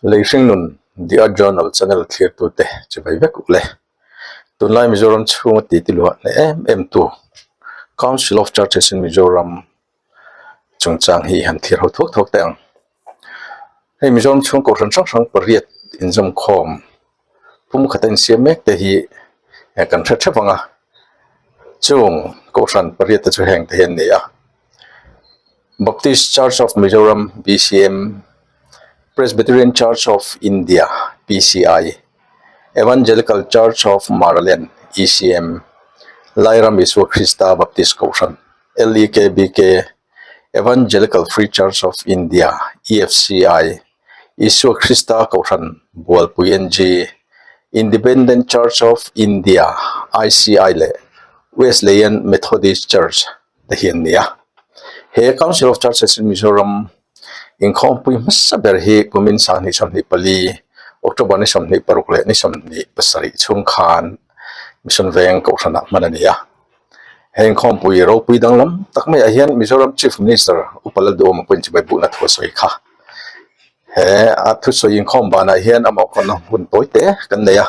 Lei hringnun The Art Journal channel thlirtute chibai vek uleh tunlai Mizoram chhunga titi luah hle em em tu Council of Churches in Mizoram, chungchang hi han thlir ho thawk thawk te ang hei Mizoram chhungkaw hran hrang hrang pariat inzawmkhawm pumkhata insiam mek te hi kan hre thap ang a chung kohhran pariat te chu heng te hi an ni a Baptist Church of Mizoram BCM Presbyterian Church of India PCI Evangelical Church of Maraland ECM Lairam Isua Krista Baptist Kohhran LEKBK, Evangelical Free Church of India, EFCI, Isua Krista Kohhran Bualpui NG, Independent Church of India, ICI, leh Wesleyan Methodist Church te hian ni a. He Council of Churches in Mizoram, Inkhawmpui hmasa ber hi Kumin sanghnih sawmhnih pali, October ni sawmhnih paruk leh ni sawmhnih pasarih chhung khan Mission Veng Kohhranah hman a ni a. He inkhawmpui ropui danglam tak maiah hian Mizoram Chief Minister U Paladuma pawhin chibai buhna thusawi kha he a thusawi inkhawm banah hian a mawhkhawmna hun pawi te kan nei a.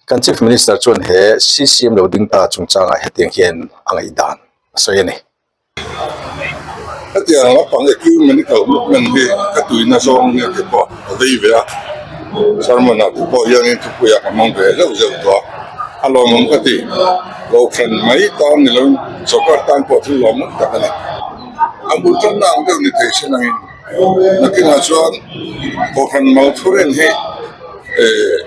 Kan Chief Minister chuan he CCM lo ding ta chungchangah hetiang hian a ngaihdan a sawi a ni. Hetiang lampang equipment i kalh hluk men hi ka tuihna zawng ania tih pawh a vei ve a, Sarmanah te pawh hian in thupuiah ka hmang ve zeuh zeuh tawh a, a lawm ang ka ti, Lohkhan mai tan ni lo in, sawrkar tan pawh thil lawm ngang tak a ni, a bul tamna ang deuh ni thei sen ang in. a kingah chuan aw han mal thu rin hi ehh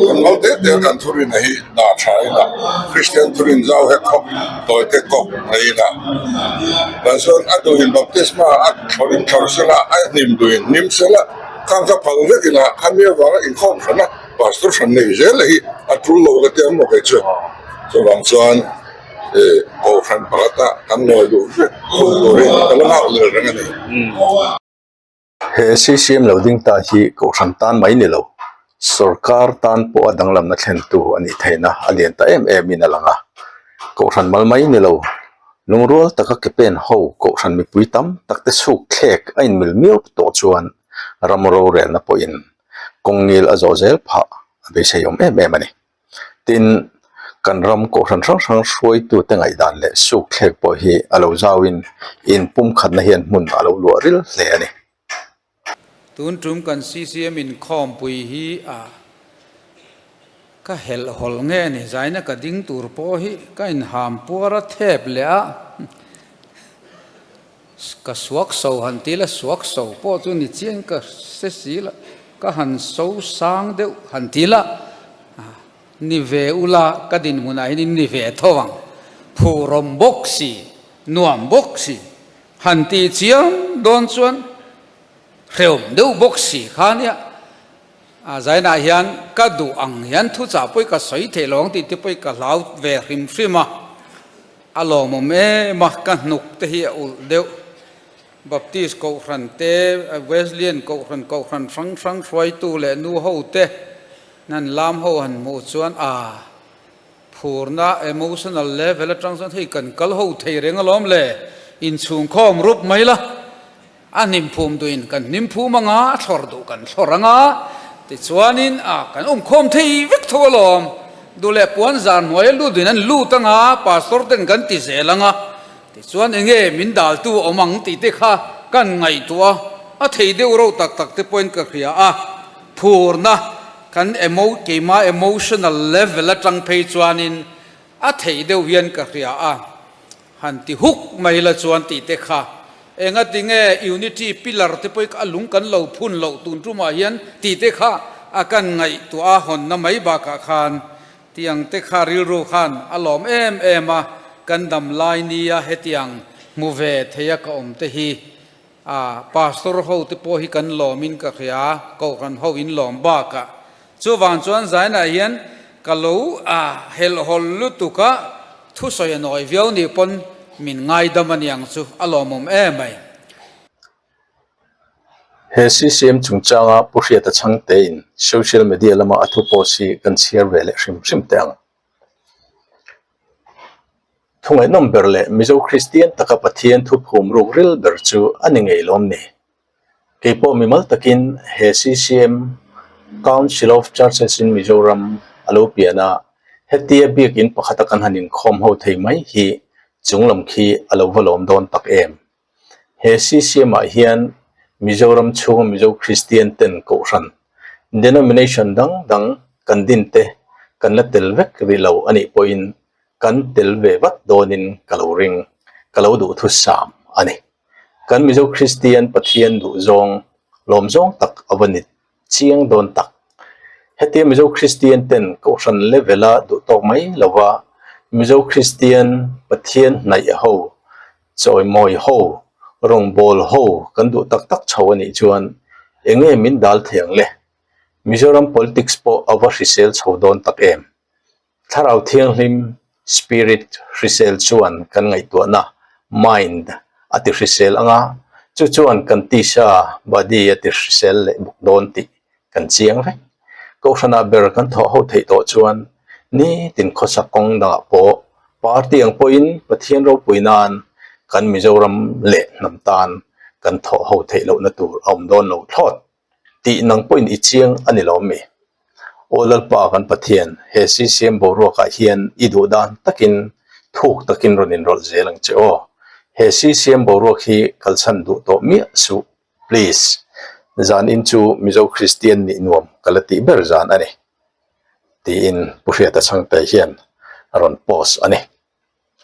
han mal teh teh a kan thu rinah hi dah tha ila kristian thu rin zau he khawp tawi te kawp a ila tah chuan a nuhin baptisma a thaw rin tho se la a hnim duhin a hnim se la khang ka phal vek in a hmir vang a inkhawm than a pastor than nei zel a hi a tul lo ka tia ang maw kei chu chuvang chuan-- ehh kohhran pakhata kan ngawi duh vek khawih turin ka la nghak leh reng a ni he ccm lo ding ta hi kohhran tan mai ni lo sawrkar tan pawh a danglamna thlen tu a nih theih na a lian ta em em in a lang a kohhran mal mai ni lo lungrual taka ke pen ho kohhran mipui tam tak te chhuk thlek a in mil miau tawh chuan ram rorelna pawh in kawng ngil a zawh zel phah a beisei awm em em a ni. tin kan ram kohhran hrang hrang hruaitute ngaihdan leh sukthlek pawh hi a lo zauin in pumkhatna hian hmun a lo luah ril hle a ni. Tun tum kan CCM inkhawmpui hi a ka helh hawl nghe a ni. Zaina ka ding tur pawh hi ka inhampuar a thep leh a. Ka suak so han ti la suak so pawh chu ni chian ka hre si la ka han so sang deuh han ti la ni ve u la ka dinhmun ah hianin ni ve tho ang phurawm bawk si nuam bawk si han ti chiang dawn chuan hrewm deuh bawk si kha nia. A zainah hian ka duh ang hian thuchah pawh ka sawi thei lo ang tih te pawh ka hlau ve hrim hrim a, a lawmawm em a, ka hnuk te hi a ulh deuh. Baptist Kohhran te, Wesleyan Kohhran, Kohhran hrang hrang hruaitu leh nu ho te hnan lam ho han hmuh chuan aa, phurna emotional level atang chuan hei kan kal ho thei reng alawm le, inchhungkhawm rup mai la. A hnimpum duhin kan hnimpum anga a thlawr duh kan thlawr anga tichuanin a kan awmkhawm thei vek tho alawm duleh puan zar hnuaia lut duhin an lut anga pastor ten kan ti zel anga tichuan enge min daltu awm ang tih te kha kan ngaihtuah a a thei deuh reuh tak tak te pawhin ka hria a phurna kan emo keima emotional level atang phei chuanin a thei deuh hian ka hria a. Han ti huk mai la chuan tih te kha enga ti nge unity pillar te pawh a lung kan lo phun loh tun tum ah hian tih te kha a kan ngaih tuah a hawn na mai bak ah khan tiang te kha rilru khan a lawm em em a kan dam lai nia hetiang hmu ve theih a ka awm te hi A, Pastor ho te pawh hi kan lawm in ka hria, Kohhran ho in lawm bak a. Chuvang chuan Zainah hian ka lo a helhawlh lutuk a, thusawi a nawi viau nih pawn min ngaidam a niang chu a lawmawm e mai. He CCM chungchanga pu hriata chhangte in social media lama a thu post hi kan chhiar ve leh hrim hrim teh ang. Thungainawm ber leh Mizo Kristian taka Pathian thuphum rukril ber chu a ni ngei lawm ni? Keipawh mi mal takin he CCM, Council of Churches in Mizoram, a lo pian a, hetia biakin pakhata kan han inkhawm ho thei mai hi chunglam khi a lo va lawm dawn tak em? He CCM-ah hian Mizoram chhunga Mizo Kristian ten Kohhran denomination dang dang kan din te kan la tel vek rih lo anih pawhin kan tel ve vat dawnin ka lo ring, ka lo duhthusam a ni. Kan Mizo Kristian Pathian duhzawng lawmzawng tak a va ni Chiang dawn tak. Hetiang Mizo Kristian ten Kohhran levela duh tawk mai lova Mizo Kristian Pathian hnaih ho, chawimawi ho, rawngbâwl ho kan duh tak tak chho a nih chuan enge min dal thei ang le? Mizoram politics pawh a va hrisel chho dawn tak em? Thlarau thianghlim, spirit, hrisel chuan kan ngaihtuahna, mind, a ti hrisel ang a, chu chuan kan tisa, body, a ti hrisel leh bawk dawn tih kan chiang vek. Kohhranah ber kan thawh ho theih tawh chuan nitin khawsak kawng dangah pawh party ang pawhin Pathian ropui nan kan Mizoram leh hnam tan kan thawh ho theih lohna tur a awm dawn lo thlawt. tih nang pawhin i chiang a ni lo mi. Aw Lalpa kan Pathian, he CCM boruakah hian i duh dan takin thuk takin rawn inrawlh zel ang che aw. He CCM boruak hi kal chhan duh tawh miah suh please. Zan in chu Mizo Kristian nih nuam ka la tih ber zan a ni. Tiin Pu Hriata Chhangte hian a rawn post a ni.